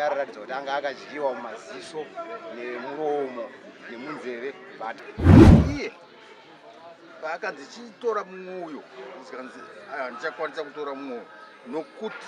anoratidza kuti anga akadyiwa mumaziso nemuromo nemunzeve but iye paakanzi chitora mumwe uyo zikanzi ah, ndichakwanisa kutora mumwe uyo nokuti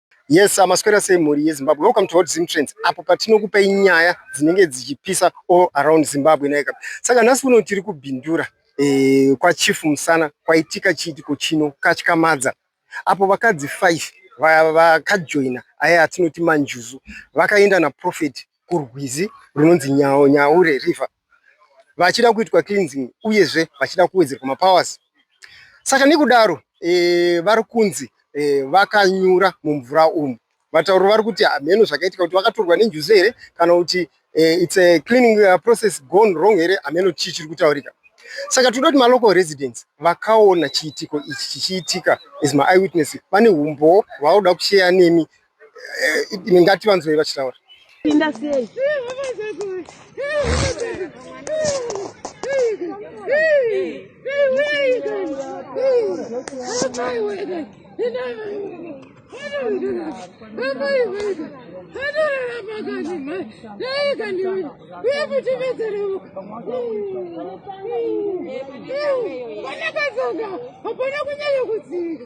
Yes, amaswera sei mhuri yeZimbabwe. Welcome to Hot Zim Trends. Apo patinokupei nyaya dzinenge dzichipisa all around Zimbabwe naika. Saka nhasi uno tiri kubhindura eh, kwaChief Musana kwaitika chiitiko chino katyamadza apo vakadzi 5 vakajoina aya atinoti manjuzu vakaenda naProphet kurwizi runonzi Nyaure River vachida kuitwa cleansing uyezve vachida kuwedzerwa mapowers saka nekudaro e, vari kunzi e, vakanyura mumvura umu vatauro vari kuti hameno zvakaitika kuti vakatorwa nenjuzu here kana kuti e, its a cleaning uh, process gone wrong here hameno chii chiri kutaurika saka tinoda kuti malocal residents vakaona chiitiko ichi chichiitika as maeyewitness vane umbowo hwavanoda kusheya nemi Eh, ngati vanzwei vachitaura pinda sei Hapana kunyanya kudzika.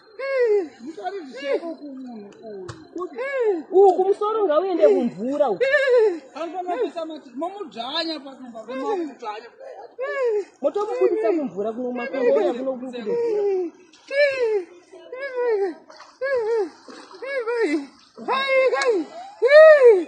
uku musoro ngauende kumvura uku motomubudisa kumvura kuno makongoya kuno kukudo Hey,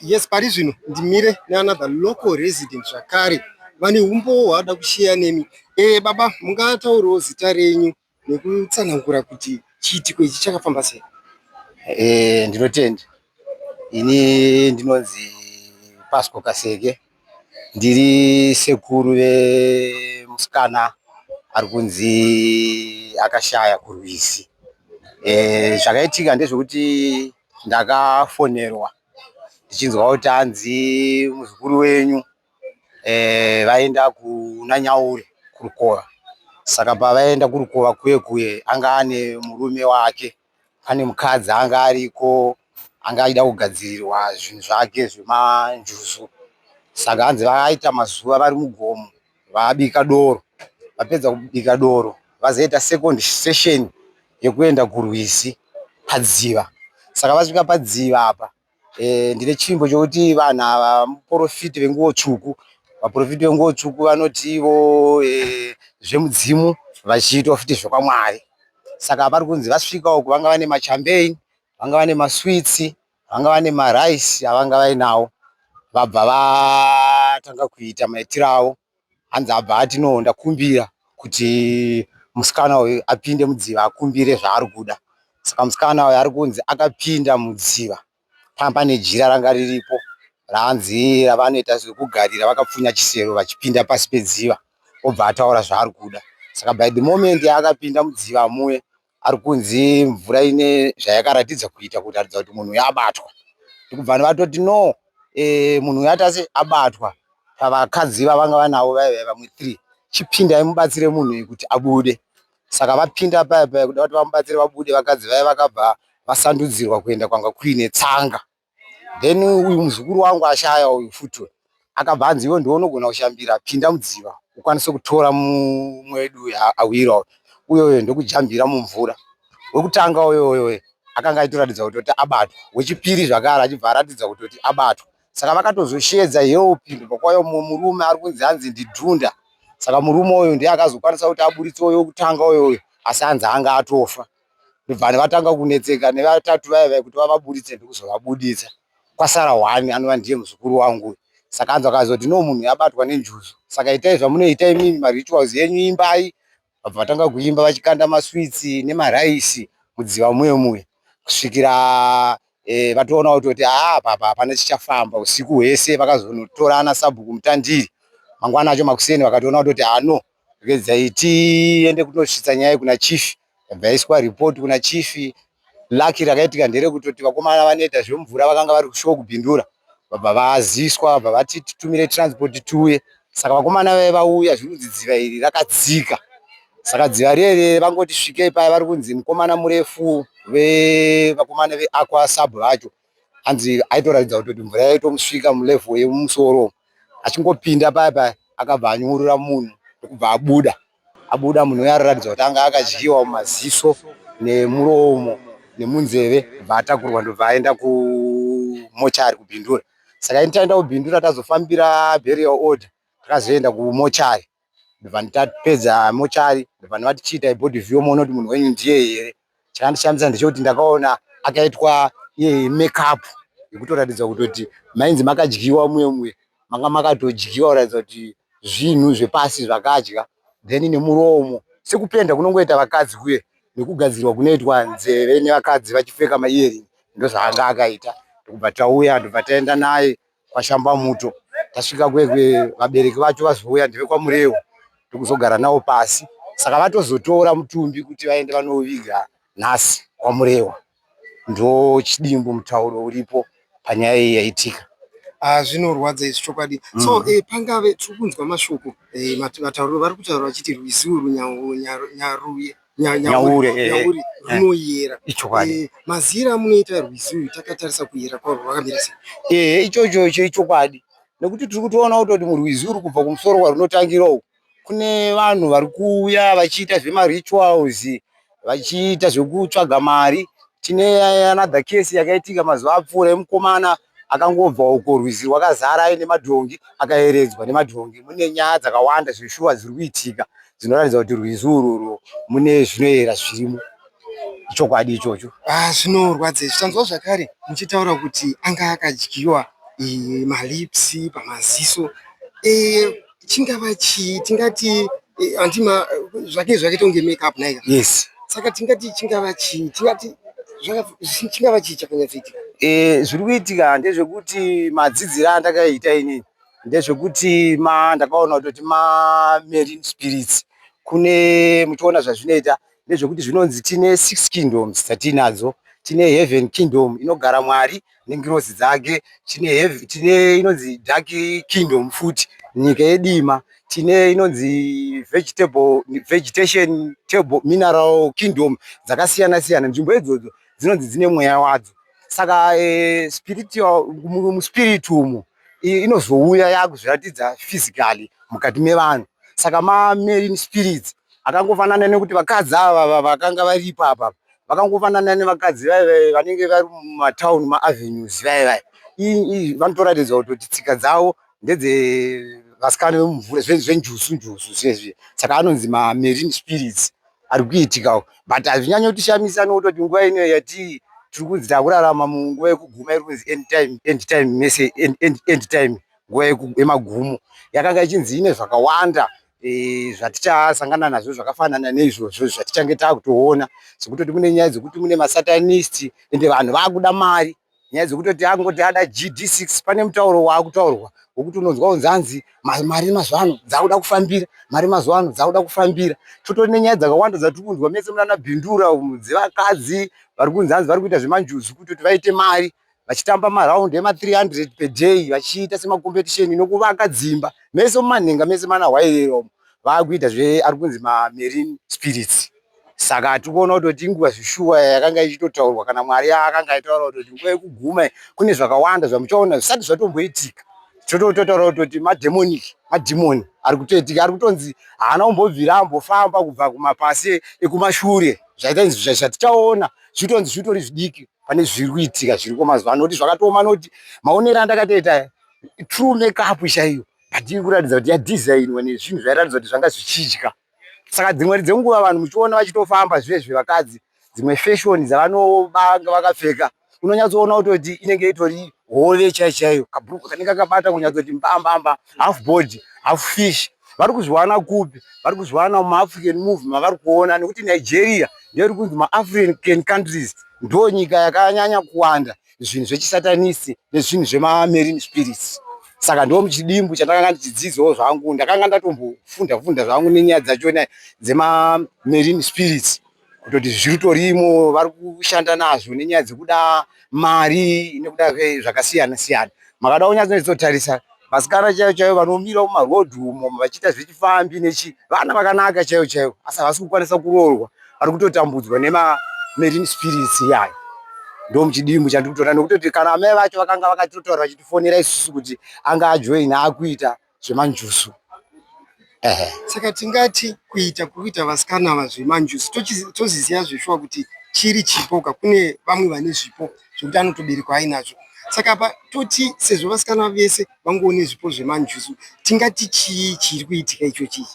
Yes, pari zvino ndimire neanother local resident zvakare vane humbowo hwavada kusheya nemi. Eh, baba mungataurawo zita renyu nekutsanangura kuti chiitiko ichi chakafamba sei? Eh, ndinotenda. Ini ndinonzi Pasco Kaseke. Ndiri sekuru vemusikana ari kunzi akashaya kurwizi. Eh, zvakaitika ndezvekuti ndakafonerwa ndichinzwa kuti hanzi muzukuru wenyu eh, vaenda kuna Nyauri kurukova. Saka pavaenda kurukova kuye kuye anga ane murume wake, ane mukadzi anga ariko, anga achida kugadzirirwa zvinhu zvake zvemanjuzu. Saka hanzi vakaita mazuva vari mugomo. vabika doro vapedza kubika doro vazoita second session yekuenda kurwizi padziva saka vasvika padziva apa e, ndine chimbo chokuti vanhu ava muporofiti venguwo tsvuku vaporofiti venguwo tsvuku vanoti ivo e, zvemudzimu vachiitwa futi zvekwamwari saka vari kunzi vasvika uku vanga vane machambein vanga vane maswitsi Vanga vane marice avanga vainawo vabva vatanga kuita maitiro avo hanzi abva ati no ndakumbira kuti musikana uyu apinde mudziva akumbire zvaari kuda saka musikana uyu ari kunzi akapinda mudziva panga pane jira ranga riripo raanzi ravanoita zvekugarira vakapfunya chisero vachipinda pasi pedziva obva ataura zvaari kuda saka by the moment yaakapinda mudziva muye Ari kunzi mvura ine zvayakaratidza kuita kutaridza kuti munhu uyu abatwa. Ndokubva vatoti no eh, munhu uyu atase abatwa pavakadzi vavanga vanavo vaive vamwe three. Chipindai mubatsire munhu uyu kuti abude. Saka vapinda paya paya kuda kuti vamubatsire vabude vakadzi vaya vakabva vasandudzirwa kuenda kwanga kuine tsanga. then uyu muzukuru wangu ashaya uyu futi akabva anzi iwe ndiwe unogona kushambira pinda mudziva ukwanise kutora mumwe wedu uyu awira uyoyo ndokujambira mumvura wekutanga uyoyoyo akanga aitoratidza kutoti abatwa wechipiri zvakare achibva aratidza kutoti abatwa saka vakatozoshedza help ndobvakwauya mumwe murume ari kunzi anzi ndidhunda saka murume uyu ndiye akazokwanisa kuti aburitse uyo wekutanga uyoyo asi anzi anga atofa ndobva vatanga kunetseka nevatatu vaya vaya kuti vavaburitse ndokuzovabuditsa kwasara one anova ndiye muzukuru wangu saka anzwa akazoti no munhu abatwa nenjuzu saka itai zvamunoita imimi marituals yenyu imbai vabva vatanga kuimba vachikanda maswitsi nemaraisi mudziva muye muye kusvikira e, vatoona kutoti haa papa hapana chichafamba usiku hwese vakazonotorana sabhuku mutandiri mangwana acho makuseni vakatoona kutoti hano Regedzai tiende kunosvitsa nyaya kuna chief. Yabva yaiswa report kuna chief. Lucky rakaitika nderekutoti vakomana vanoita zvemvura vakanga vari kushow kubindura vabva vaziswa vabva vati titumire transport tiuye saka vakomana vave vauya zvinonzi dziva iri rakadzika saka dziva rierere vangoti svikei paya vari kunzi mukomana murefu vevakomana veaqua sub vacho hanzi aitoratidza kutoti mvura yaitomusvika mulevel yemumusoro achingopinda paya paya akabva anyungurura munhu ndokubva abuda abuda munhu uya araratidza kuti anga akadyiwa mumaziso nemuromo nemunzeve bva atakurwa ndobva aenda kumochari kubhindura saka ini taenda kubhindura tazofambira burial order takazoenda kumochari ndobva ndatapedza mochari ndobva ndavati chiitai body view moona kuti munhu wenyu ndiye here chakandishamisa ndechekuti ndakaona akaitwa iye makeup yekutoratidza kutoti mainzi makadyiwa muye muye manga makatodyiwa kuratidza kuti zvinhu zvepasi zvakadya then nemuromo sekupenda kunongoita vakadzi kuye nekugadzirwa kunoitwa nzeve nevakadzi vachipfeka maearing ndozvaanga akaita ndokubva tauya ndobva taenda naye kwashamba muto tasvika kwekwe vabereki vacho vazouya ndevekwamurewo ndokuzogara navo pasi saka vatozotora mutumbi kuti vaende vanoviga nhasi kwamurewa ndo chidimbu mutauro uripo panyaya iyi yaitika ah, zvinorwadza izvi chokwadi mm. so eh, pangave tiri kunzwa mashoko eh, vatauriro vari kutaura vachiti rwiziwo runyaruye nyaure eh, eh, runoyera eh, ichokwadi mazira amunoita rwizi uyu takatarisa kuyera kwaro rwakamira sei ehe ichocho icho ichokwadi nekuti tiri kutoona kutoti murwizi uri kubva kumusoro kwarunotangira uku kune vanhu vari kuuya vachiita zvemarituals vachiita zvekutsvaga mari tine another case yakaitika mazuva apfuura yemukomana akangobva uko rwizi rwakazara aine madhongi akayeredzwa nemadhongi mune nyaya dzakawanda zveshuwa dziri kuitika dzinoratidza kuti rwizi ururu mune zvinoyera zvirimo ichokwadi ichocho ah, zvinorwadza izvi tanzwa zvakare muchitaura kuti anga akadyiwa eh, malips pamaziso eh, chingava chii tingati eh, antima zvake zvakaita kunge make up naika yes saka tingati chingava chii tingati chingava chii chakanyatsoitika eh, zviri kuitika ndezvekuti madzidziro andakaita ini ndezvekuti ma ndakaona kutoti ma marine spirits kune muchiona zvazvinoita ndezvekuti zvinonzi tine six kingdoms dzatiinadzo tine heaven kingdom inogara mwari nengirozi dzake tine heavy tine inonzi dark kingdom futi nyika yedima tine inonzi vegetable vegetation table mineral kingdom dzakasiyana siyana nzvimbo idzodzo dzinonzi dzine mweya wadzo saka e, spiritual muspirit umo inozouya yakuzviratidza physically mukati mevanhu saka mamarine spirits akangofanana nekuti vakadzi ava vakanga varipo apa vakangofanana nevakadzi vaye vaye vanenge vari mumatown maavenues vaye vaye ii vanotoratidza kutoti tsika dzavo ndedzevasikana vemumvura zvenjusu njusu zviezvi saka anonzi mamarine spirits ari kuitikawo but hazvinyanya kutishamisa nokutoti nguva ino yati tiri kunzi takurarama munguva yekuguma iri kunzi end time end time mese end time nguva yemagumo yakanga ichinzi ine zvakawanda e, zvatichasangana nazvo zvakafanana neizvozvo zvatichange taakutoona zvekutoti mune nyaya dzekuti mune masatanist ende vanhu vaakuda mari nyaya dzekutoti angoti ada gd6 pane mutauro waakutaurwa wekuti unonzwa kunzi anzi mari mazuva ano dzaakuda kufambira mari mazuva ano dzaakuda kufambira totori nenyaya dzakawanda dzatiri kunzwa mese munana bhindura dzevakadzi vari kunzi anzi vari kuita zvemanjuzu kutoti vaite mari vachitamba maraundi ema 300 per day vachiita semacompetition nokuvaka dzimba mese mumanhenga mese mana hwairero vakuita zve ari kunzi mamarine spirits saka hatiri kuona kutoti inguva zvishuwa yakanga ichitotaurwa kana mwari akanga aitaura kutoti nguva yekuguma kune zvakawanda zvamuchaona zvisati zvatomboitika totototaura kutoti mademonic madhimoni ari kutoitika ari kutonzi haana kumbobvira ambofamba kubva kumapasi ekumashure zvaita izvi zvatichaona zvitonzi zvitori zvidiki pane zviri kuitika zviriko mazuva ano kuti zvakatooma noti maonero andakatoita true makeup chaiyo but iri kuratidza kuti yadesignwa nezvinhu zvairatidza kuti zvanga zvichidya saka dzimwe dzenguva vanhu muchiona vachitofamba zvive zvevakadzi dzimwe fashion dzavanobanga vakapfeka unonyatsoona kutoti inenge itori hove chaiyo chaiyo kabhuruku kanenge kakabata kunyatsoti mbambamba half body half fish vari kuzviwana kupi vari kuzviwana mumaafrican move mavari kuona nekuti nigeria ndeiri kunzi maafrican countries ndo nyika yakanyanya kuwanda zvinhu zvechisatanisi nezvinhu zvemamarine spirits saka ndo muchidimbu chandakanga ndichidzidzawo zvangu ndakanga ndatombofunda funda zvangu nenyaya dzachona dzemamarine spirits kutoti zviritorimo vari kushanda nazvo nenyaya dzekuda mari nekuda zvakasiyana siyana makada kunyatsotarisa vasikana chaivo chaivo vanomira mumarodhi umo vachiita zvechifambi nechi vana vakanaka chaivo chaivo asi havasi kukwanisa kuroorwa vari kutotambudzwa nemamarine spirits iyayo ndo muchidimbu chandiri kutoona nokutoti kana amai vacho vakanga vakatotaura vachitifonera isusu kuti anga ajoina akuita zvemanjuzu ehe saka tingati kuita kuita vasikana ava zvemanjuzu toziziva zveshuwa kuti chiri chipo ka kune vamwe vane zvipo zvekuti anotoberekwa ainazvo saka apa toti sezvo vasikana vese vangoone zvipo zvemanjuzu tingati chii chiri kuitika icho chii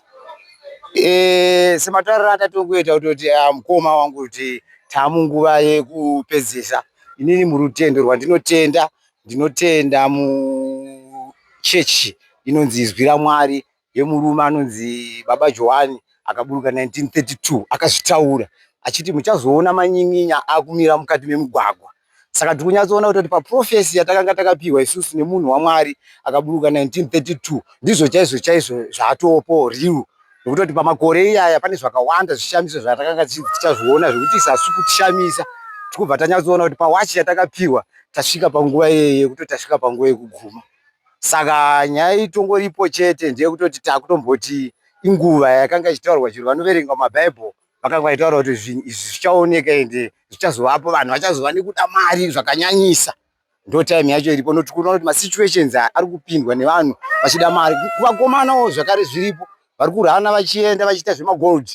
eh, sematauriro atatokuita kutoti ah, mukoma wangu kuti tamunguva yekupedzisa inini murutendo rwandinotenda Ndinotenda muchechi inonzi Izwi raMwari yemurume anonzi Baba Johani akaburuka 1932 akazvitaura achiti muchazoona manyin'inya akumira mukati memugwagwa. Saka tiri kunyatsoona kuti paprofesi yatakanga takapiwa isusu nemunhu waMwari akaburuka 1932 ndizvo chaizvo chaizvo zvaatopo riu. nokutoti pamakore iyaya pane zvakawanda zvishamiso zvatakanga tichazviona zvekuti isasi kutishamisa tikubva tanyatsoona kuti pawachi yatakapiwa tasvika panguva iyeye yekutoti tasvika panguva yekuguma saka nyaya itongoripo chete ndeyekutoti takutomboti inguva yakanga ichitaurwa chero vanoverenga mabhaibheri vakanga vaitaura kuti zvinhu izvi zvichaoneka ende zvichazovapo vanhu vachazova nekuda mari zvakanyanyisa ndo time yacho iripo noti kuona kuti masituations aya ari kupindwa nevanhu vachida mari kuvakomanawo zvakare zviripo vari kurana vachienda vachiita zvemagold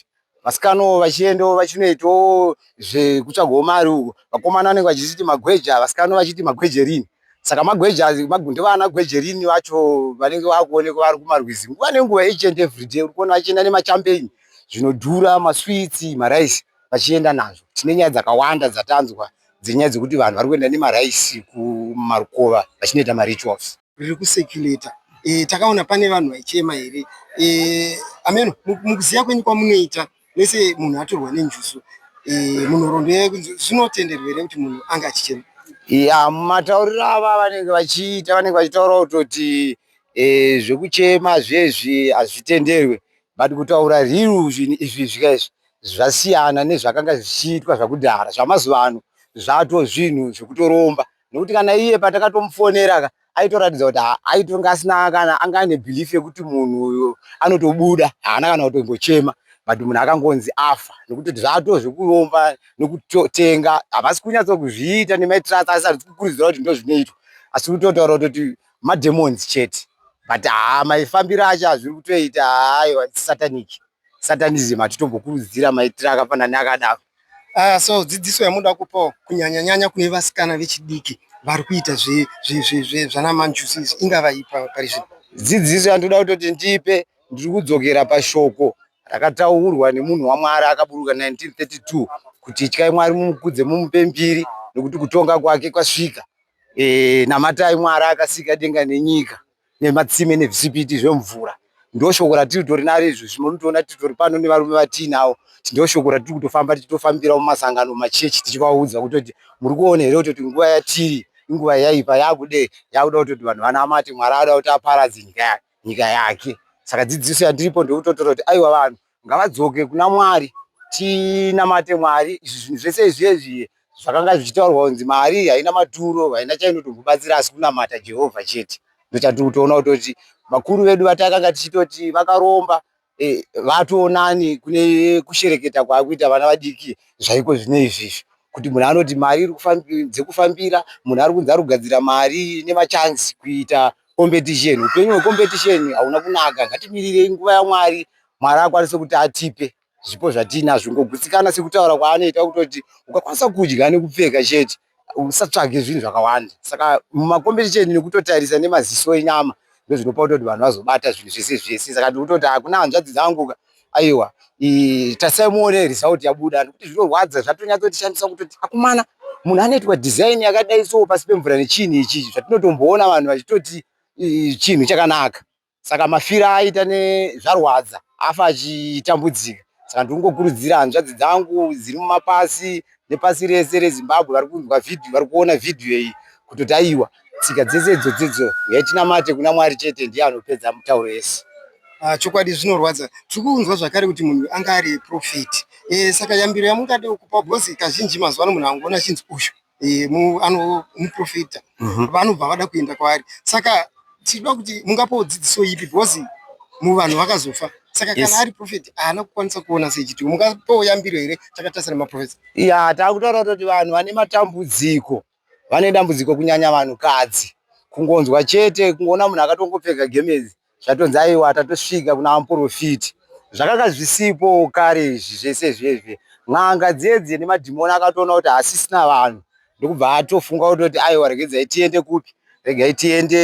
vasikanawo vachiendawo vachinoitawo zvekutsvagawo mari uko vakomana vanenge vachiti magweja vasikana vachiti magwejerini saka magweja ndovana gwejerini vacho vanenge vakuonekwa vari kumarwizi nguva nenguva each and every day uri kuona vachienda nemachampeini zvinodhura maswitsi maraisi vachienda nazvo. Tine nyaya dzakawanda dzatanzwa dzenyaya dzekuti vanhu vari kuenda nemaraisi kumarukova vachinoita marituals. Riri kucirculator e, takaona pane vanhu vaichema here e, ameno mukuziva kwenyu kwamunoita mese munhu atorwa nenjuzu e, munhoroondo yayo kunzi zvinotenderwa here kuti munhu ange achichema ya matauriro ava vanenge vachiita vanenge vachitaura kutoti e, zvekuchema zvezvi hazvitenderwe But kutaura real zvinhu izvi zvika izvi zvasiyana nezvakanga zvichiitwa zvakudhara. Zvamazuva ano zvato zvinhu zvekutoromba nekuti kana iye patakatomufonera ka aitoratidza kuti aitonga asina kana anga ane belief yekuti munhu uyo anotobuda haana kana kutombochema but munhu akangonzi afa nekuti zvato zvekuromba nekutotenga havasi kunyatsokuzviita nemaitirasa asati kukurudzira kuti ndozvinoitwa asi kutotaura kutoti mademons chete but haa maifambiro acho azviri kutoita aiwa satanic satanism hatitombokurudzira maitira akafanana akadaro uh, so dzidziso yamunoda kupawo kunyanyanyanya kune vasikana vechidiki vari kuita zvanamanjusis ingava ipa pari zvino dzidziso yandinoda kutoti ndipe ndiri kudzokera pashoko rakataurwa nemunhu wamwari akaburuka 1932 kuti ityai mwari mumukudze mumupe mbiri nekuti kutonga kwake kwasvika Eh, namatai Mwari akasika denga nenyika nematsime nezvisipiti zvemvura ndoshoko ratiri kutori naro izvozvi munotoona titori pano nevarume vatiinawo ndoshoko ratiri kutofamba tichitofambira mumasangano machechi tichivaudza kutoti muri kuona here kutoti nguva yatiri inguva yaipa yakude yakuda kutoti vanhu vanamate mwari akuda kuti aparadze nyika nyika yake saka dzidziso yandiripo ndokutotora kuti aiwa vanhu ngavadzoke kuna mwari tinamate mwari izvi zvinhu zvese izvezvi zvakanga zvichitaurwa kunzi mari haina maturo haina chainotombobatsira asi kunamata jehovha chete ndochatiri kutoona kutoti vakuru vedu vatakanga tichitoti vakaromba e, vatoonani kune kushereketa kwaakuita vana vadiki zvaiko zvine izvizvi kuti munhu anoti mari iri dzekufambira munhu ari kunzi ari kugadzira mari nemachansi kuita competition upenyu hwecompetition hauna kunaka ngatimirirei nguva yamwari mwari akwanise kuti atipe zvipo zvatiinazvo ngogutsikana sekutaura kwaanoita kutoti ukakwanisa kudya nekupfeka chete usatsvage zvinhu zvakawanda saka mumakombetisheni nekutotarisa nemaziso enyama ndozvinopa kutoti vanhu vazobata zvinhu zvese zvese saka ndikutoti hakuna hanzvadzi dzanguka aiwa tasai muone result yabuda nekuti zvinorwadza zvatonyatsotishandisa kutoti akumana munhu anoitwa design yakadai so pasi pemvura nechini ichii zvatinotomboona vanhu vachitoti chinhu chakanaka saka mafiro aita nezvarwadza afa achitambudzika saka ndiri kungokurudzira hanzvadzi dzangu dziri mumapasi nepasi rese rezimbabwe vari kunzwa vhidhiyo vari kuona vhidhiyo iyi kutoti aiwa tsika dzese idzodzidzo yatinamate kuna mwari chete ndiye anopedza mutauro yese ah, chokwadi zvinorwadza tiri kunzwa zvakare kuti munhu anga ari profeti eh, saka yambiro yamungade kupa bhozi kazhinji mazuva ano munhu angoona chinzi uyu eh, muprofita mhm. vanobva vada kuenda kwaari saka tichida kuti mungapawo dzidziso ipi because muvanhu vakazofa saka kana ari profeti haana kukwanisa kuona sechiti mungapawo yambiro here takatasira maprofeti ya takutaura kuti vanhu vane matambudziko vane dambudziko kunyanya vanhukadzi kungonzwa chete kungoona munhu akatongopfeka gemezi zvatonzi aiwa tatosvika kuna vaprofiti zvakanga zvisipo kare izvi zvese zvezve n'anga dziye dziye nemadhimoni akatoona kuti hasisina vanhu ndokubva atofunga kutoti aiwa regedzai tiende kupi regai tiende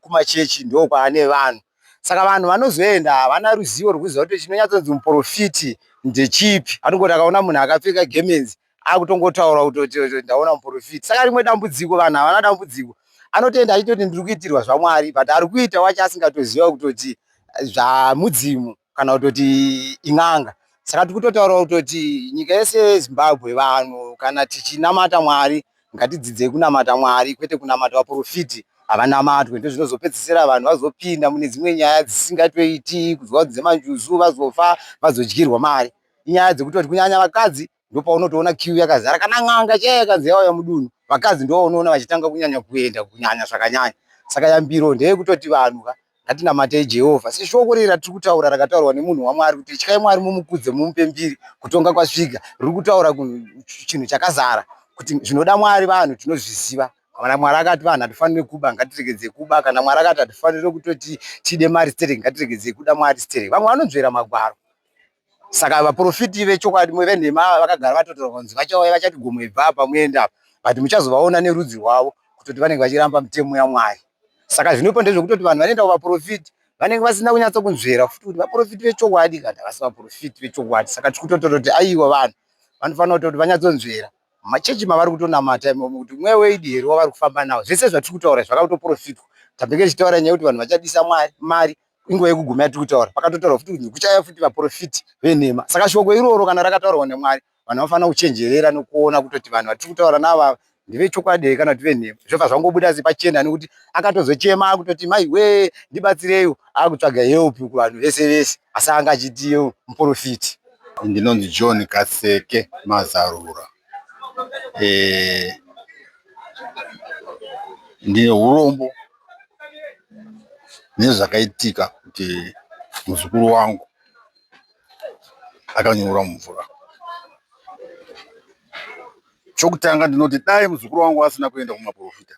kumachechi ndo kwaane vanhu saka vanhu vanozoenda havana ruzivo rwekuziva kuti chinonyatsonzi muprofiti ndechipi anongoti akaona munhu akapfeka gemenzi akutongotaura kutoti ndaona muprofiti saka rimwe dambudziko vanhu havana dambudziko anotenda achitoti ndiri kuitirwa zvamwari but ari kuita wacho asingatoziva kutoti eh, zvamudzimu kana kutoti in'anga saka tiri kutotaurawo kutoti nyika yese yezimbabwe vanhu kana tichinamata mwari ngatidzidzei kunamata mwari kwete kunamata vaprofiti havanamatwe ndozvinozopedzisira vanhu vazopinda mune dzimwe nyaya dzisingatoiti kuzwa kuti dzemanjuzu vazofa vazodyirwa mari inyaya dzekutoti kunyanya vakadzi ndopaunotoona kiu yakazara kana n'anga chaiyo yakanzi yauya mudunhu vakadzi ndovaunoona vachitanga kunyanya kuenda kunyanya zvakanyanya saka yambiro ndeyekutoti vanhu ka ngatinamatei jehovha seshoko rei ratiri kutaura rakataurwa nemunhu wamwari kuti ityai mwari mumukudze mumupe mbiri kutonga kwasvika riri kutaura chinhu chakazara kuti zvinoda mwari vanhu tinozviziva kana mwari akati vanhu hatifanire kuba ngatiregedze kuba kana mwari akati hatifanire kutoti tide mari sterek ngatiregedze kuda mwari sterek vamwe vanonzvera magwaro saka vaprofiti vechokwadi venhema ava vakagara vatotaura kunzi vachauya vachati gomo ibva apa muenda apa but muchazovaona nerudzi rwavo kutoti vanenge vachiramba mitemo yamwari saka zvinopa ndezvekutoti vanhu vanoenda kuvaprofiti vanenge vasina kunyatsa kunzvera futi kuti vaprofiti vechokwadi kana vasi vaprofiti vechokwadi saka tiri kutotora kuti aiwa vanhu vanofanira kutoti vanyatsonzvera machechi mavari kutonamata imomo kuti mweya weidi here wavari kufamba nawo zvese zvatiri kutaura zvakakutoprofitwa tabenge tichitaura nyaya yekuti vanhu vachadisa mari inguva yekuguma yatiri kutaura pakatotaurwa futi kuti kuchauya futi vaprofiti venhema saka shoko iroro kana rakataurwa nemwari vanhu vanofanira kuchenjerera nekuona kutoti vanhu vatiri kutaura navava ndevechokwadi here kana kuti venhema zvobva zvangobuda sepachena nekuti akatozochema akutoti mai wee ndibatsireiwo akutsvaga help kuvanhu vese vese asi anga achitiwo muprofiti ndinonzi john kaseke mazarura e, ndine urombo nezvakaitika kuti muzukuru wangu akanyura mumvura. Chokutanga ndinoti dai muzukuru wangu asina kuenda kumaporofita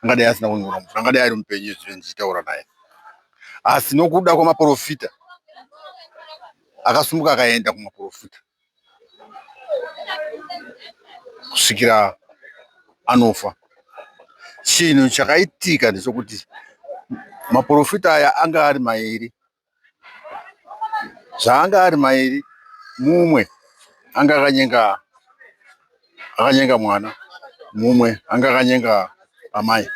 angadai asina kunyura mumvura, angadai ari mupenyu izvi ndichitaura naye, asi nokuda kwemaporofita akasumuka akaenda kumaporofita. kusvikira anofa. Chinhu chakaitika ndechokuti maporofita aya anga ari mairi. Zvaanga ari mairi, mumwe anga akanyenga akanyenga mwana, mumwe anga akanyenga amai.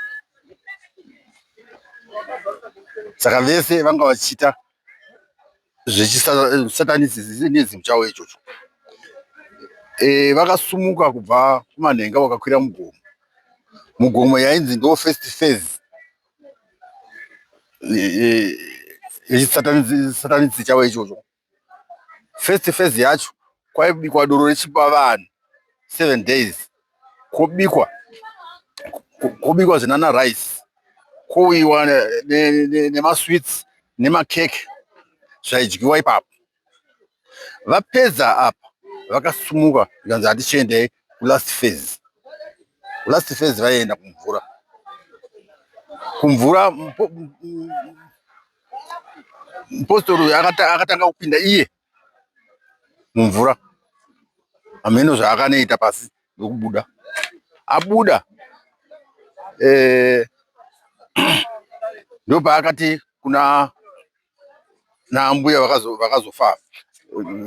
Saka vese vanga vachiita zvechisatanisizimu chavo ichocho e, vakasumuka kubva kumanhenga vakakwira mugomo mugomo yainzi ndo first phase yechisatanisi e, e, chavo ichocho first phase yacho kwaibikwa doro rechipa vanhu seven days kobikwa kobikwa zinana rice kouyiwa nemasweets nemakeke zvaidyiwa ipapo vapedza apa vakasumuka zvikanzi hatichiendei kulast phase kulast phase vaienda kumvura kumvura mupostori uyu akatanga kupinda iye mumvura hameno zvaakanoita pasi nekubuda abuda eh, ndopaakati kuna naambuya vakazofa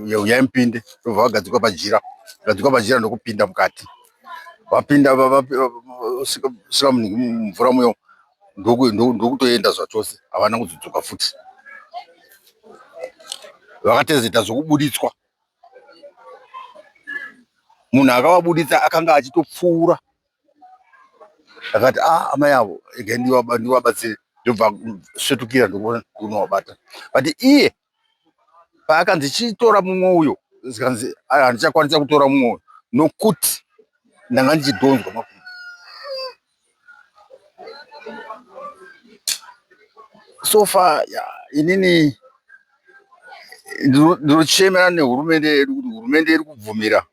yauya mupinde ndobva vagadzikwa pajira gadzikwa pajira ndokupinda mukati vapinda sika mvura muyo ndokutoenda zvachose havana kuzodzoka futi vakatezeta zvokubuditswa munhu akavabuditsa akanga achitopfuura akati a ah, amai avo ega ndivabatsire ndobva svetukira ndokunovabata but iye paakanzi chitora mumwe uyo zvikanzi handichakwanisa kutora mumwe uyo nokuti ndanga ndichidhonzwa makumbo so far yeah, inini ndinochemera nehurumende yedu kuti hurumende iri kubvumira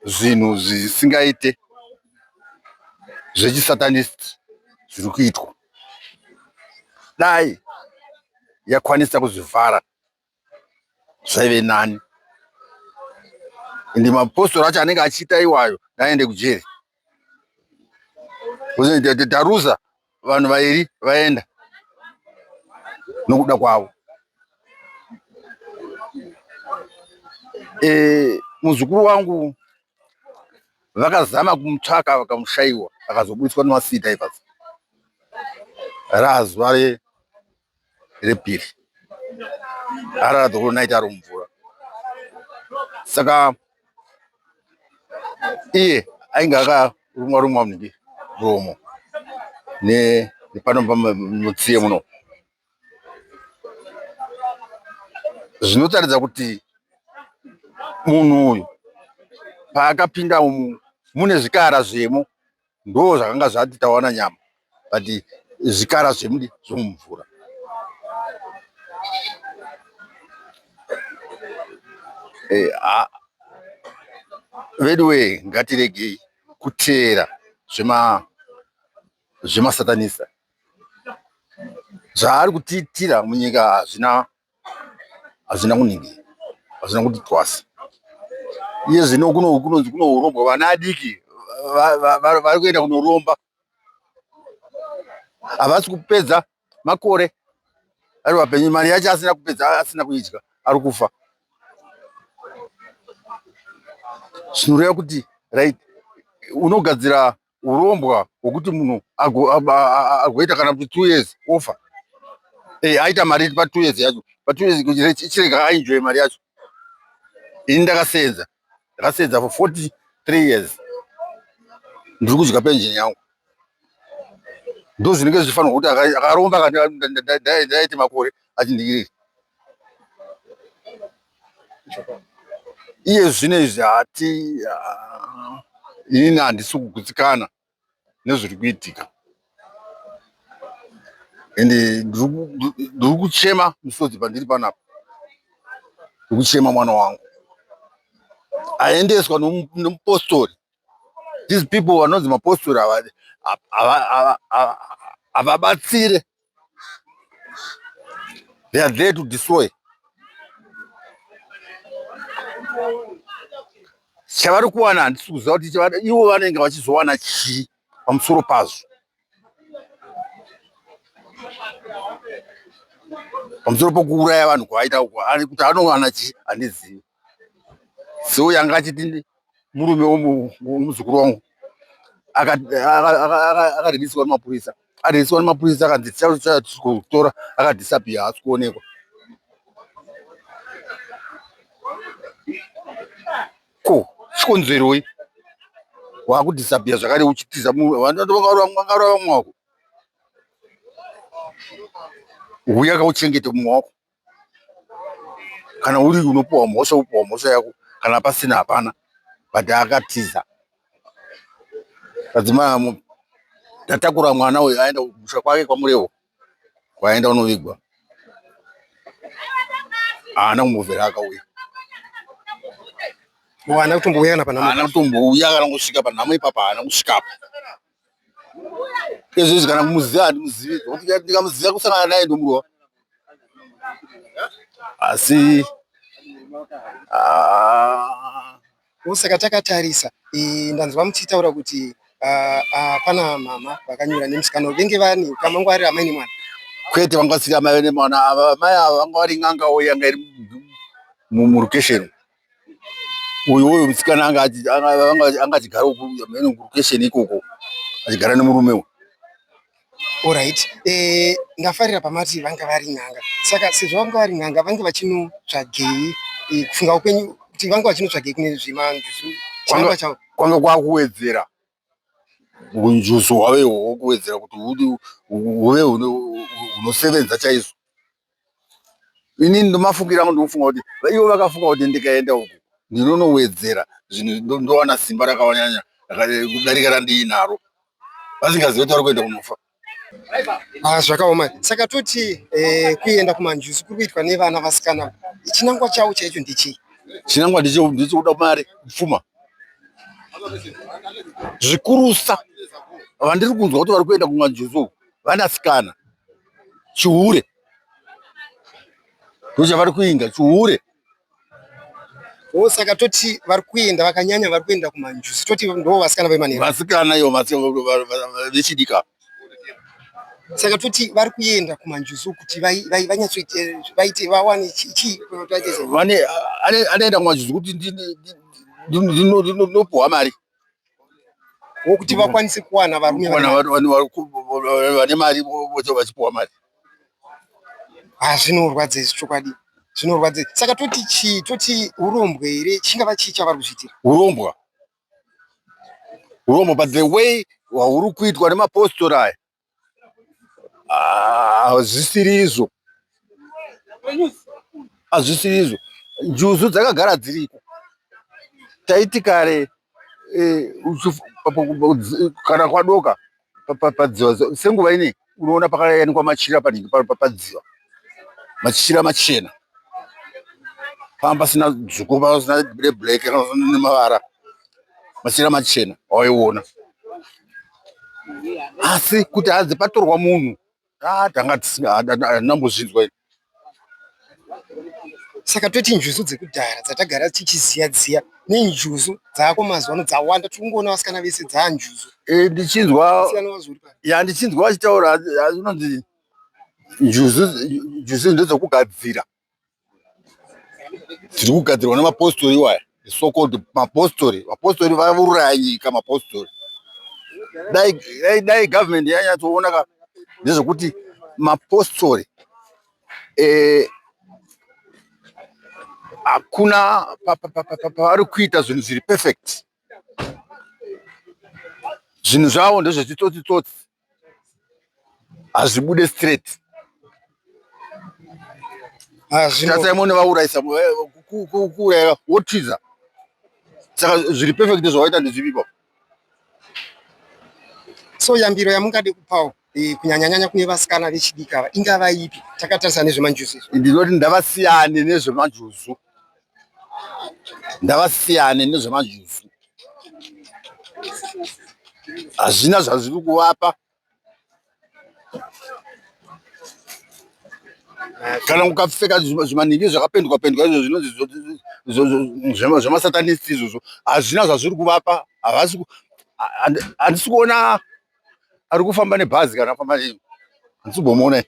zvinhu zvisingaite zvechisatanist zviri kuitwa dai yakwanisa kuzvivhara zvaive nani ende mapostori acho anenge achiita iwayo ngaaende kujeri. taruza vanhu vairi vaenda nokuda kwavo e, muzukuru wangu vakazama kumutsvaka vakamushaiwa akazobudiswa nemasita ipapo razuva repiri arara dhokoro naiti ari mumvura saka iye ainge akarumwa rumwa munenge muromo nepano pamutsiye muno zvinotaridza kuti munhu uyu paakapinda umu mune zvikara zvemo ndoo zvakanga zvati tawana nyama but zvikara zvemudi zvomumvura eh, ah. veduwee ngatiregei kuteera zvema zvemasatanista zvaari kutiitira munyika hazvina hazvina kuningira hazvina kuti twasa iye zvino kunonzi kunorombwa vana adiki vari kuenda kunoromba havasi kupedza makore ari vapenyu mari yacho asina kupedza asina kuidya ari kufa zvinoreva kuti right unogadzira urombwa hwekuti munhu agoita kana kuti two years ofa eh, aita mari pa two years yacho pa two years chirega ainjoye mari yacho ini ndakasenza ndakasenza for forty three years ndiri kudya pension yangu ndozvinenge zvichifanirwa kuti akaromba ndaiti makore achindiiriri iye zvino izvi hati inini handisi kugutsikana nezviri kuitika ende ndiri kuchema misodzi pandiri panapa ndiri kuchema mwana wangu aendeswa nomupostori these people vanonzi mapostori havadi havabatsire They are there to destroy. Chavari kuwana handisi kuziva kuti ivo vanenge vachizowana chii pamusoro pazvo. Pamusoro pokuuraya vanhu kwavaita uko, kuti anowana chii handizivi. so yanga achiti murume womuzukuru wangu akaribiswa nemapurisa aribiswa nemapurisa akanzi tichakutora akadhisapiya haasi kuonekwa ko chikonzeroi wakudhisapiya zvakare uchitiza munhu vangaura vamwe wako huya kauchengete mumwe wako kana uri unopiwa mhosva wopiwa mhosva yako kana pasina hapana but akatiza tadzimai tatakura mwana uyu aenda kumusha kwake kwamurewo kwaenda unovigwa haana kumbovera akauya haana kutombouya kana panhamo haana kutombouya kana kusvika panhamo ipapa haana kusvikapo Ezvezvi kana kumuziva handimuzivi nokuti ndikamuziva kusangana naye ndomurowa asi ah. usaka takatarisa ndanzwa muchitaura kuti ah, ah, pana mama vakanyura nemusikana venge vani kamangwarira amai nemwana kwete vanga vasiri amai nemwana ava amai ava vanga vari n'anga wo yanga iri murukesheni uyu uyu musikana anga anga achigara uku mheno location ikoko achigara nemurume uyu orit eh, ndafarira pamati vanga vari n'anga saka sezvo vanga vari n'anga vange vachinotsvagei eh, kufunga kwenyu kuti vanga vachinotsvagei kune zvemanjuzu kwanga kwakuwedzera Hunjuzu hwavo ihwo hwekuwedzera kuti huve hunosevenza chaizvo. Inini ndomafungira angu ndinofunga kuti ivo vakafunga kuti ndikaenda uku ndinonowedzera zvinhu ndowana simba rakanyanya kudarika randiinaro vasingazive kuti vari kuenda kunofa. Ah, zvakaoma saka toti eh, kuenda kumanjuzu kuri kuitwa nevana vasikana chinangwa chavo chaicho ndechii chinangwa ndichokuda mari pfuma zvikurusa vandiri kunzwa kuti vari kuenda kumanjuzu vanasikana chihure ndochavari kuinga chihure Oh, saka toti vari kuenda vakanyanya vari kuenda kumanjuzi toti ndo vasikana vemanheru vasikana iyo vechidika saka toti vari kuenda kumanjuzi kuti vanyatsoite vaite vawane chii anoenda kumanjuzi kuti ndinopuhwa mari wokuti vakwanise kuwana varume vane mari voto vachipuwa mari ha zvinorwadza izvi chokwadi zvinorwadza saka toti chii toti urombwa here chingava chii chavari kuzviitira urombwa urombwa but the way hwauri kuitwa nemapostori aya hazvisirizvo hazvisirizvo njuzu dzakagara dziriko taiti kare eh, kana kwadoka padziva senguva inei unoona pakayanikwa machira panenge padziva machira machena panga pasina dzvuku panga pasina reblack kana nemavara machira machena waiona asi kuti hadzi patorwa munhu ah, tanga tisinambozvinzwa iri saka toti njuzu dzekudhara dzatagara tichiziya dziya nenjuzu dzaako mazuva ano dzawanda tiri kungoona vasikana vese dzaa njuzu eh, ndichinzwa ya ndichinzwa vachitaura zvinonzi njuzu njuzu ndedzokugadzira tiri kugadzirwa nemapostori iwaya sokod mapostori mapostori vauraya nyika mapostori dai government yanyatsoona ka nezvekuti mapostori eh, hakuna pavari kuita zvinhu zviri perfect zvinhu zvavo ndezvechitsotsitsotsi hazvibude straight tasaimone vaurayisa kuuraya wotiza saka zviri perfect zvawaita ndezvipipa so yambiro yamungade kupawo eh, kunyanyanyanya kune vasikana vechidiki ava ingava ipi takatarisa nezvemanjuzu izvo ndinoti ndavasiyane nezvemanjuzu ndavasiyane nezvemajuzi hazvina zvazviri kuvapa kana ukapfeka zvimanhingi zvakapendwa pendwa izvo zvinonzi zvemasatanisti izvozvo hazvina zvazviri kuvapa havasi handisi kuona ari kufamba nebhazi kana afamba nei hanzibomona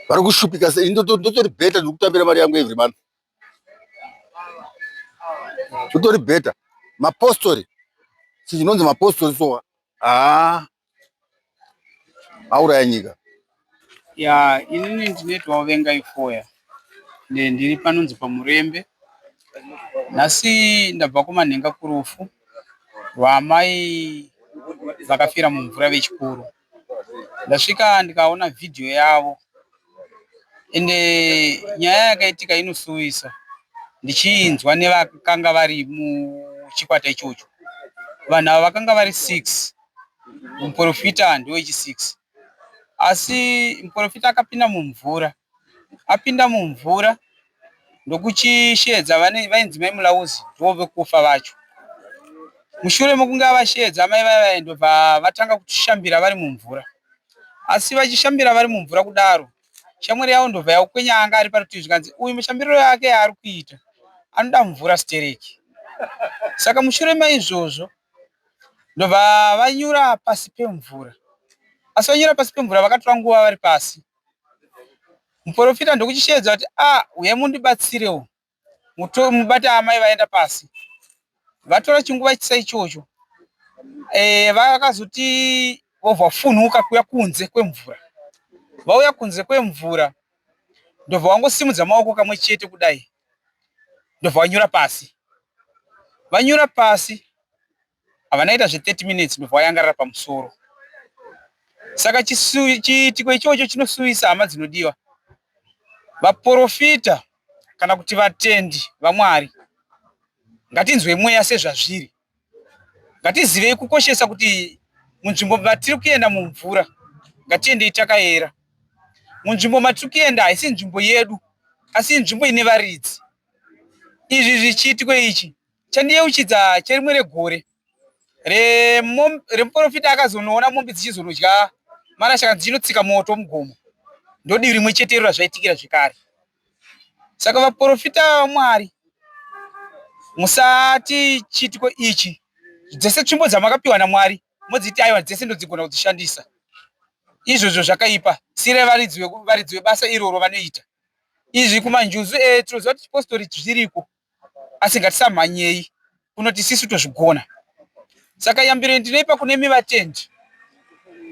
vari kushupika sei ndotori bheta ndikutambira mari yangu every month ndotori bheta mapostori chinonzi mapostori sowa haa auraya nyika Ya, inini ndinoitwawo venga ifoya Ne- ndiri panonzi pamurembe nhasi ndabva kumanhenga kurufu rwaamai vakafira mumvura vechikuru ndasvika ndikaona vhidhiyo yavo ende nyaya yakaitika inosuwisa ndichiinzwa nevakanga vari muchikwata ichocho vanhu ava vakanga vari six muporofita ndiwo wechisiks Asi muporofita akapinda mumvura, apinda mumvura ndokuchisheedza vainzi mai Mulauzi ndovove kufa vacho. Mushure mekunge avasheedza amai vaya vaya ndobva vatanga kushambira vari mumvura. Asi vachishambira vari mumvura kudaro, shamwari yavo ndobva yakwenya anga ari parutivi zvikanzi uyu mushambiriro yake yaari kuita anoda mvura stereki. Saka mushure maizvozvo ndobva vanyura pasi pemvura asi vanyura pasi pemvura vakatora nguva vari pasi muporofita ndokuchisheedza kuti a ah, huyai mundibatsirewo mubata amai vaenda pasi vatora chinguva chisa ichocho e, vakazoti vobva funhuka kuya kunze kwemvura vauya kunze kwemvura ndobva wangosimudza maoko kamwe chete kudai ndobva vanyura pasi vanyura pasi havanaita zve 30 minutes ndobva vayangarira pamusoro saka chiitiko ichocho chinosuwisa hama dzinodiwa vaprofita kana kuti vatendi vamwari ngatinzwe mweya sezvazviri Ngatizivei kukoshesa kuti munzvimbo matiri kuenda mumvura ngatiendei takayera. Munzvimbo matiri kuenda haisi nzvimbo yedu asi nzvimbo ine varidzi. Izvi zvichiitiko ichi chandiyeuchidza cherimwe regore remuporofita akazonoona mombe dzichizonodya marasha kana dzichinotsika moto mugomo ndodivi rimwe chetero razvaitikira zvekare Saka vaprofita vaMwari, musati chiitiko ichi, dzese tsvimbo dzamakapiwa naMwari modziti aiwa dzese ndodzigona kudzishandisa. Izvozvo zvakaipa, sire varidzi vebasa iroro vanoita izvi kumanjuzu edu. Tinoziva kuti chipositori zviriko, asi ngatisamhanyei kunoti isisu tozvigona saka yambiro ndinoipa kune mi vatendi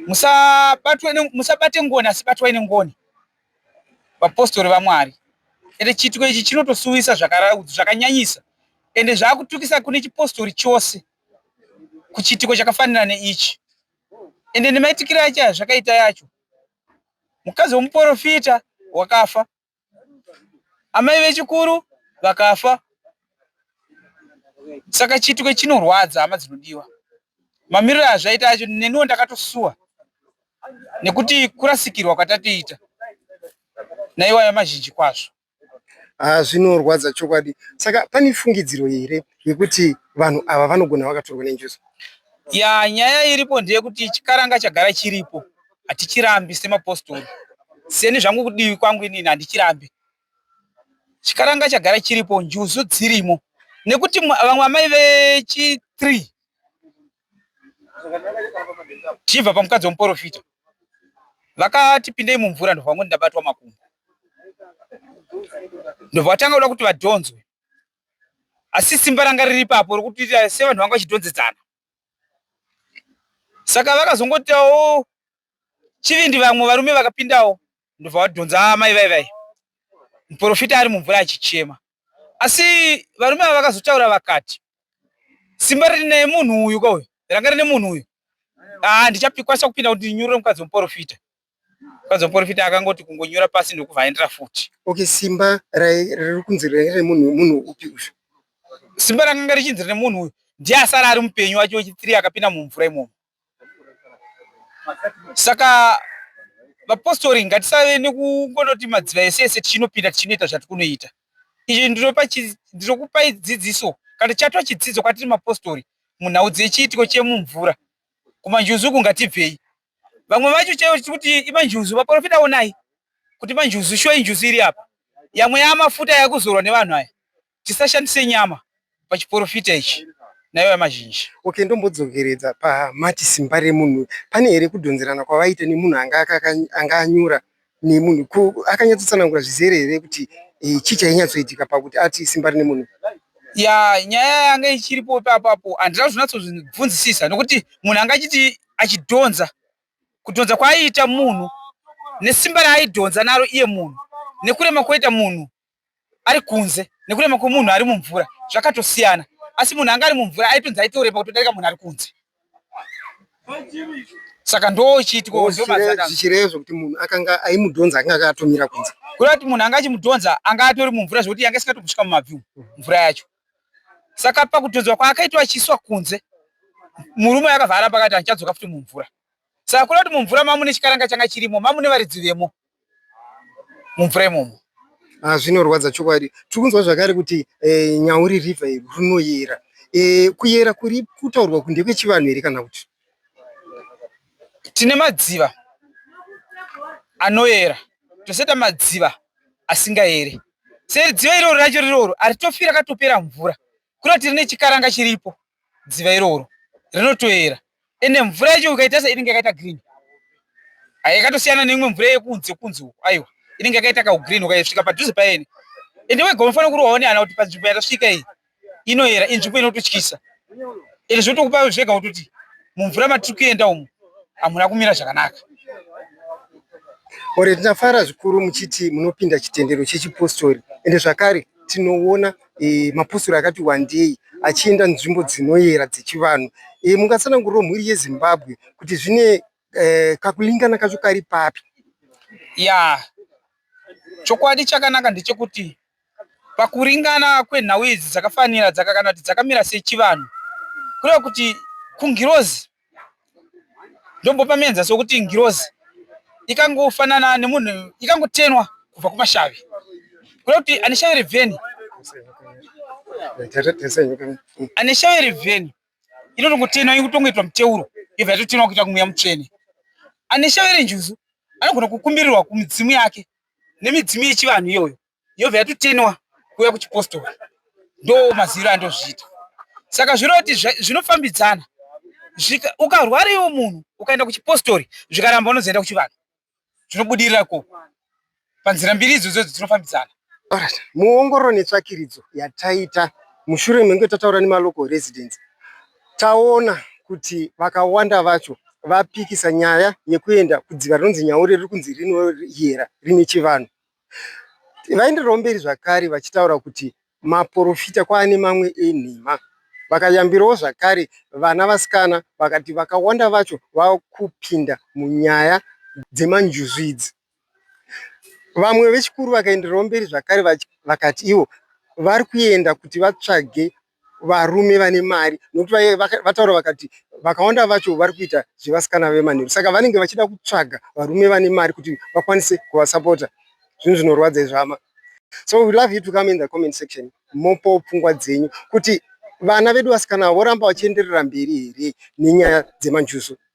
musabatwe ne- musabate ngoni asi batwai nengoni vapostori vamwari ende chiitiko ichi chinotosuwisa zvakara- zvakanyanyisa ende zvaakutukisa kune chipostori chose kuchiitiko chakafanira neichi ende nemaitikiro acho azvakaita yacho mukadzi wemuporofita wakafa amai vechikuru vakafa saka chitwe chinorwadza hama dzinodiwa mamiriro azvaita acho neniwo ndakatosuwa nekuti kurasikirwa kwatatoita naiwaya mazhinji kwazvo ah, zvinorwadza chokwadi saka pane fungidziro here yekuti vanhu ava vanogona vakatorwa nenjuzu ya nyaya iripo ndeyekuti chikaranga chagara chiripo hatichirambi semapostori seni zvangu kudivi kwangu inini handichirambi chikaranga chagara chiripo njuzu dzirimo nekuti vamwe amai vechi three tichibva pamukadzi wemuporofita vakati pindei mumvura ndobva vangoti ndabatwa makumbo ndobva vatanga kuda kuti vadhonzwe asi simba ranga riri papo rokuti sevanhu vanga vachidhonzedzana saka vakazongotiawo chivindi vamwe varume vakapindawo ndobva vadhonza ah, mai vai vai muprofita ari mumvura achichema asi varume ava vakazotaura vakati simba riri naye munhu uyu kauyu ranga rine munhu uyu ah, ndichapikwanisa kupinda kuti ndinyurure mukadzi wemuprofita Kwanzi muporofita akangoti kungonyura pasi ndokuvhaendera futi. Okay, simba riri kunzi remunhu munhu upi uyu? Simba rakanga richinzi remunhu uyu ndiye asara ari mupenyu wacho wechitiri akapinda mumvura imomo. Saka vapostori ngatisave nekungondoti madziva ese ese tichinopinda tichinoita zvatikunoita. Izvi ndinokupai dzidziso kana chatwa chidzidzo kwatiri mapostori munhau dzechiitiko chemumvura kumanjuzuku ngatibvei vamwe vacho chaivo chikuti imanjuzu vaprofita onai kuti manjuzu shuwa injuzu iri apa yamwe yamafuta yakuzorwa nevanhu aya tisashandise nyama pachiprofita ichi nayo yamazhinji okay ndombodzokeredza pamati simba remunhu pane here kudhonzerana kwavaita nemunhu anga anyura nemunhu ko akanyatsotsanangura zvizere here kuti eh, chii chainyatsoitika pakuti ati simba rine munhu ya nyaya yanga ichiripo ipapapo handina kuzvinatsozvibvunzisisa nokuti munhu anga achiti achidhonza kudhonza kwaaiita munhu nesimba raaidhonza naro iye munhu nekurema kwoita munhu ari kunze nekurema kwemunhu ari mumvura zvakatosiyana asi munhu anga ari mumvura aitonzi aitorema kutodarika munhu ari kunze saka ndochiitwa zvichirevzo kuti munhu akanga aimudhonza anga akatomira kunze kureva kuti munhu anga achimudhonza anga atori mumvura zvekuti yanga isingatobusvika mumabviu mvura yacho saka pakudhonzwa kwaakaitwa achiiswa kunze murume akavhara pakati andichadzoka futi mumvura saka kureva kuti mumvura mamune chikaranga changa chirimo mamune varidzi vemo muframe umu ah, zvinorwadza chokwadi tiri kunzwa zvakare kuti eh, nyauri river iri runoyera eh, kuyera kuri kutaurwa kuti ndekwechivanhu here kana kuti tine madziva anoyera tosaita madziva asingayere seri dziva iroro racho riroro haritofira katopera mvura kuna tiri nechikaranga chiripo dziva iroro rinotoera ende mvura yacho ukaita se inenge yakaita green ayi yakatosiyana neimwe mvura yekunze kunze uko aiwa inenge yakaita kaugreen ukaisvika padhuze paene ende wega unofanira kuri waone ana kuti panzvimbo yatasvika iyi inoera inzvimbo inototyisa ende zvotokupa zvega kutoti mumvura matiri kuenda umu hamuna kumira zvakanaka ore tinafara zvikuru muchiti munopinda chitendero chechipostori ende zvakare tinoona e, mapostori akati wandei achienda nzvimbo dzinoyera dzechivanhu e, eh, mungatsananguriro mhuri yezimbabwe kuti zvine e, kakulingana kacho kari papi ya chokwadi chakanaka ndechekuti pakuringana kwenhau idzi dzakafanira dzaka kana kuti dzakamira sechivanhu kureva kuti kungirozi ndombopa mienzaniso wekuti ngirozi ikangofanana nemunhu ikangotenwa kubva kumashavi kuda kuti ane shavi revheni ane shavi revheni inotongotenwa ikutongoitwa muteuro yobva yatotenwa kuita kumweya mutsvene ane shavi renjuzu anogona kukumbirirwa kumidzimu yake nemidzimu yechivanhu iyoyo yobva yatotenwa kuuya kuchipostori ndo maziro andozviita saka zvireva kuti zvinofambidzana ukarwara iwo munhu ukaenda kuchipostori zvikaramba unozoenda kuchivanhu zvinobudirira ko panzira mbiri idzodzo dzinofambidzana muongororo netsvakiridzo yataita mushure menge tataura nemalocal residence taona kuti vakawanda vacho vapikisa nyaya yekuenda kudziva rinonzi nyaure riri kunzi rinoyera rine chivanhu Vaendererawo mberi zvakare vachitaura kuti maporofita kwava nemamwe enhema. Vakayambirawo zvakare vana vasikana vakati vakawanda vacho vava kupinda munyaya dzemanjuzu idzi. Vamwe vechikuru vakaendererawo mberi zvakare vakati ivo vari kuenda kuti vatsvage varume vane mari nokuti vataura vakati vakawanda vacho vari kuita zvevasikana vemanheru saka vanenge vachida kutsvaga varume vane mari kuti vakwanise kuvasapota zvinhu zvinorwadza izvama so we love you to come in the comment section mopo pfungwa dzenyu kuti vana vedu vasikana voramba vachienderera mberi here nenyaya dzemanjuzu